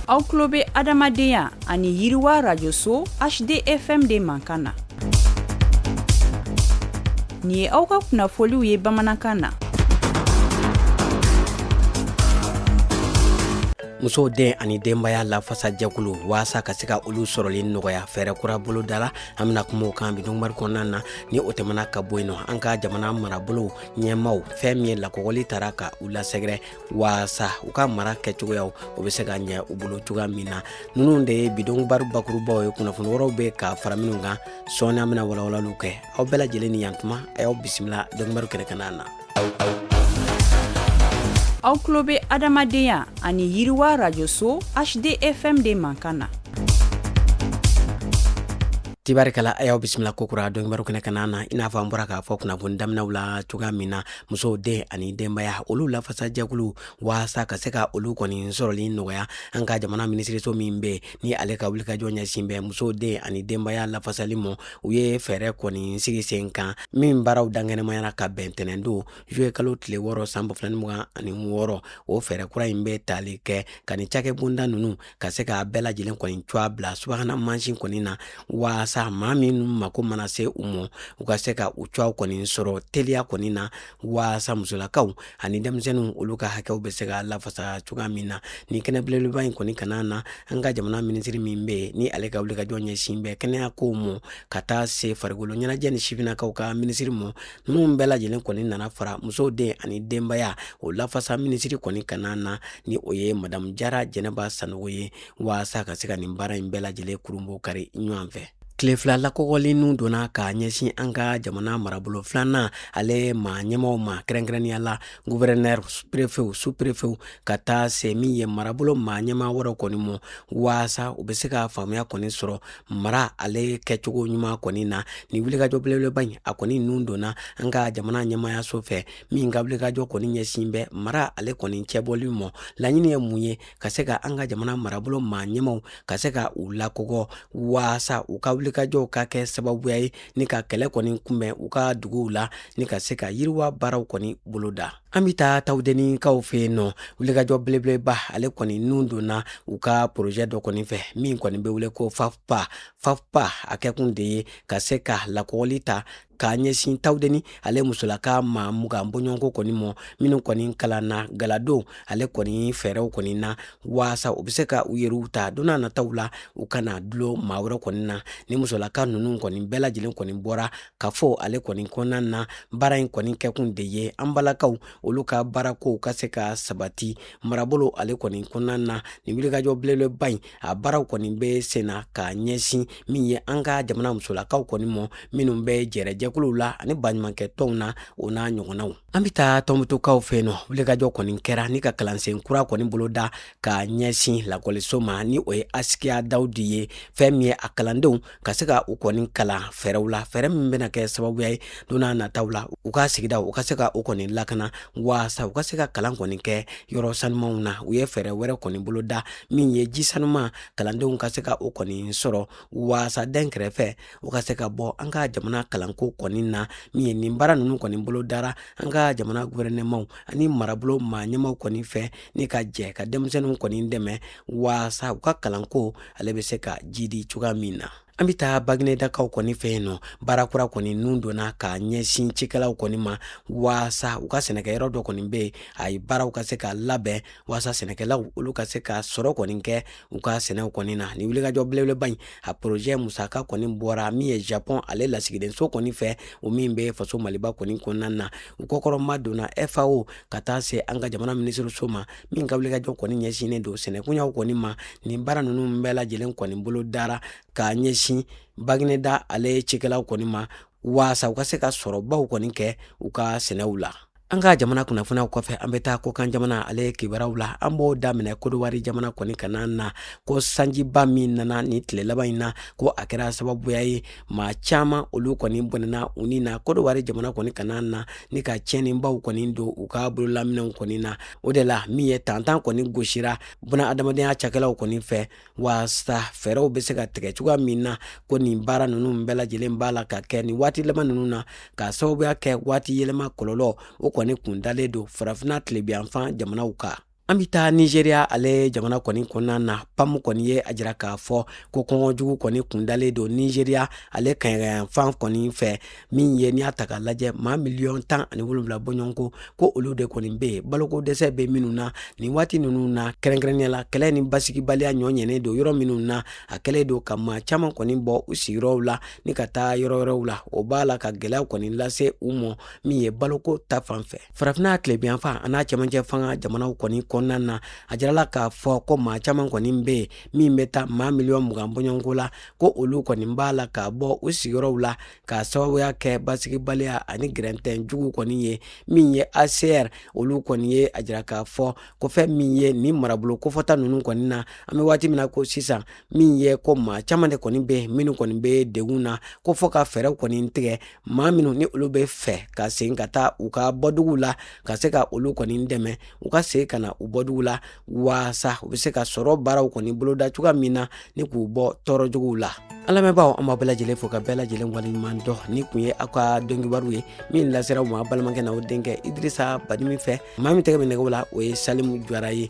aw tulo bɛ adamadenya ani yiriwa rajoso hdfm de mankan na nin ye aw ka kunnafoliw ye bamanankan na musow den ani denbaya lafasa jɛkulu waasa ka se ka olu sɔrɔli nɔgɔya fɛɛrɛ kura bolodala an bɛna kuma o kan bi dɔnkibaru kɔnɔna na ni o tɛmɛna ka bɔ yen nɔ an ka jamana marabolow ɲɛmaw fɛn min ye lakɔgɔli tara ka u lasɛgɛrɛ waasa u ka mara kɛcogoyaw o bɛ se ka ɲɛ u bolo cogoya min na ninnu de ye bi dɔnkibaru bakurubaw ye kunnafoni wɛrɛw bɛ ka fara minnu kan sɔɔni an bɛna walawalaliw kɛ aw bɛɛ lajɛlen ni yantuma a y'aw bisimila dɔnkibaru kɛnɛ kana na aw tulo bɛ adamadenya ani yiriwa rajoso hdfm de mankan na tibarikala a y'aw bisimila kokura dɔnkibaru kɛnɛ kana na i n'a fɔ an bɔra k'a fɔ kunnafoni daminɛw la cogoya min na musow den ani denbaya olu lafasa jɛkulu waasa ka se ka olu kɔni sɔrɔli nɔgɔya an ka jamana minisiriso min bɛ ni ale ka wulikajɔ ɲɛsin bɛ musow den ani denbaya lafasali mɔ u ye fɛɛrɛ kɔni sigi sen kan min baaraw dankɛnɛmayara ka bɛn tɛnɛndon zuluye kalo tile wɔɔrɔ san ba fila ni mugan ani wɔɔrɔ o fɛɛrɛ kura in bɛ tali kɛ ka ni cakɛ bonda ninnu ka se k'a bɛɛ lajɛlen kɔni cogoya bila subahana mansin kɔni na waasa maa min mako mana se u ma u ka se ka u cogoyaw kɔni sɔrɔ teliya kɔni na waasa musolakaw ani denmisɛnninw olu ka hakɛw bɛ se ka lafasa cogoya min na ni kɛnɛ belebeleba in kɔni kana na an ka jamana minisiri min bɛ yen ni ale ka wulikajɔ ɲɛsin bɛ kɛnɛya kow ma ka taa se farikolo ɲɛnajɛ ni sifinnakaw ka minisiri mɔ ninnu bɛɛ lajɛlen kɔni nana fara musow den ani denbaya o lafasa minisiri kɔni kana na ni o ye madamu jara jɛnɛba sanogo ye waasa ka se ka nin baara in bɛɛ lajɛlen kurunbonkari ɲɔgɔn fɛ tile fila lakɔgɔli nun donna ka ɲɛsin an ka jamana marabolo filanan ale maa ɲɛmaw ma kɛrɛnkɛrɛnnenya la guvɛrɛnɛr perefew su perefew ka taa se min ye marabolo maa ɲɛma wɛrɛw kɔni mɔ waasa u bɛ se ka faamuya kɔni sɔrɔ mara ale kɛcogo ɲuman kɔni na ni wulikajɔ belebeleba in a kɔni nun donna an ka jamana ɲɛmayaso fɛ min ka wulikajɔ kɔni ɲɛsin bɛ mara ale kɔni cɛbɔli mɔ laɲini ye mun ye ka se ka an ka jamana marabolo maa ɲɛmaw ka se ka u lakɔgɔ waasa u ka wulikajɔw ka kɛ sababuya ye ni ka kɛlɛ kɔni kunbɛn u ka duguw la ni ka se ka yiriwa baaraw kɔni boloda an bɛ taa tawudenikaw fɛ yen nɔ wulikajɔ belebeleba ale kɔni nun donna u ka porozɛ dɔ kɔni fɛ min kɔni bɛ wele ko fafpa fafpa a kɛkun de ye ka se ka lakɔgɔli ta ka ɲɛsin tawudeni ale musolaka maa mugan bɔɲɔgɔnko kɔni mɔ minnu kɔni kalanna galadon ale kɔni fɛɛrɛw kɔni na waasa u bɛ se ka u yɛrɛw ta don n'a nataw la u kana dulon maa wɛrɛ kɔni na ni musolaka ninnu kɔni bɛɛ lajɛlen kɔni bɔra ka fɔ ale kɔni kɔnɔna na baara in kɔni kɛkun de ye an balakaw olu ka baarakow ka se ka sabati marabolo ale kɔni kɔnɔna na nin wulikajɔ belebeleba in a baaraw kɔni bɛ sen na ka ɲɛsin min ye an ka jamana musolakaw kɔni mɔ minnu bɛ jɛrɛjɛkuluw la ani baɲumankɛ tɔnw na o n'a ɲɔgɔnnaw an bɛ taa tɔnbutukaw fɛ yen nɔ wulikajɔ kɔni kɛra ni ka kalansen kura kɔni boloda ka ɲɛsin lakɔliso ma ni o ye asikiya dawudi ye fɛn min ye a kalandenw ka se ka u kɔni kalan fɛɛrɛw la fɛɛrɛ min bɛna kɛ sababuya ye don n'a nataw la u ka sigida u ka se ka u kɔni lakana waasa u ka se ka kalan kɔni kɛ yɔrɔ sanumanw na u ye fɛɛrɛ wɛrɛ kɔni boloda min ye ji sanuman kalandenw ka se ka u kɔni sɔrɔ waasa dɛnkɛrɛfɛ u ka se ka bɔ an ka jamana kalanko kɔni na min ye nin baara ninnu kɔni bolodara an ka jamana guvɛrɛnɛman ani marabolo maa ɲɛmaaw kɔni fɛ ni ka jɛ ka denmisɛnninw kɔni dɛmɛ waasa u ka kalanko ale bɛ se ka jidi cogoya min na an bɛ taa baginedakaw kɔni fɛ yen nɔ baara kura kɔni nun donna ka ɲɛsin cikɛlaw kɔni ma waasa u ka sɛnɛkɛyɔrɔ dɔ kɔni bɛ yen a ye baaraw ka se ka labɛn waasa sɛnɛkɛlaw olu ka se ka sɔrɔ kɔni kɛ u ka sɛnɛw kɔni na ni wulikajɔ belebeleba in a porozɛ musaka kɔni bɔra min ye japɔn ale lasigidenso kɔni fɛ o min bɛ faso maliba kɔni kɔnɔna na u kɔkɔrɔmadonna fao ka taa se an ka jamana minisiriso ma min ka wulikajɔ kɔni ɲɛsinnen don sɛnɛkoɲaw kɔni ma nin baara ninnu bɛɛ lajɛlen kɔni bolodara k'a ɲɛsin bagineda ale cikɛlaw kɔni ma waasa u ka se ka sɔrɔbaw kɔni kɛ u ka sɛnɛw la an ka jamana kunnafoniyaw kɔfɛ an bɛ taa kokan jamana ale kibaruyaw la an b'o daminɛ kodowari jamana kɔni kana na ko sanjiba min nana nin tile laban in na ko a kɛra sababuya ye maa caaman olu kɔni bɔnɛna u ni na kodowari jamana kɔni kana na ni ka tiɲɛnibaw kɔni don u ka bololaminɛnw kɔni na o de la min ye tantan kɔni gosira bunadamadenya cakɛlaw kɔni fɛ waasa fɛɛrɛw be se ka tigɛ cogoya min na ko nin baara nunu bɛɛ lajɛlen b'a la ka kɛ nin waati laban nunu na ka sababuya kɛ waati yɛlɛma kɔlɔlɔ o kɔni kundalen don farafinna tilebinyanfan jamanaw kan an bɛ taa nizeriya ale jamana kɔni kɔnɔna na pam kɔni ye a jira k'a fɔ ko kɔngɔ jugu kɔni kundalen don nizeriya ale kaɲagayanfan kɔni fɛ min ye n'i y'a ta k'a lajɛ maa miliyɔn tan ani wolonwula bɔɲɔgɔnko ko olu de kɔni bɛ yen baloko dɛsɛ bɛ minnu na nin waati ninnu na kɛrɛnkɛrɛnnenya la kɛlɛ ni basigibaliya ɲɔ ɲɛnen don yɔrɔ minnu na a kɛlen don ka maa caman kɔni bɔ u sigiyɔrɔw la ni ka taa yɔrɔ wɛrɛw la o b'a la ka gɛlɛya kɔni lase u ma min ye baloko ta fan fɛ farafinna tilebinyanfan an'a cɛmancɛ fanga jamanaw kɔni kɔnɔna na a jirala k'a fɔ ko maa caman kɔni bɛ yen min bɛ taa maa miliyɔn mugan bɔɲɔgɔnko la ko olu kɔni b'a la ka bɔ u sigiyɔrɔw la ka sababuya kɛ basigibaliya ani gɛrɛntɛn jugu kɔni ye min ye hcr olu kɔni ye a jira k'a fɔ ko fɛn min ye nin marabolo kofɔta ninnu kɔni na an bɛ waati min na ko sisan min ye ko maa caman de kɔni bɛ minnu kɔni bɛ degun na ko fo ka fɛɛrɛw kɔni tigɛ maa minnu ni olu b'a fɛ ka segin ka taa u ka bɔdugu la ka se ka olu kɔni dɛmɛ u ka segin ka na u bɔdugu la waasa u bɛ se ka sɔrɔ baaraw kɔni boloda cogoya min na ni k'u bɔ tɔɔrɔjuguw la an lamɛnbaaw an b'aw bɛɛ lajɛlen fo k'aw bɛɛ lajɛlen waleɲuman dɔn nin kun ye aw ka donkibaru ye min lasera aw ma balimakɛ n'aw denkɛ idrisa badimi fɛ maa min tɛgɛ bɛ nɛgɛw la o ye salimu jara ye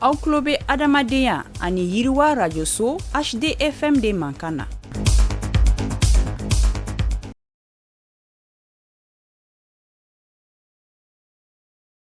aw tulo bɛ adamadenya ani yiriwa radio so HDFM de mankan na.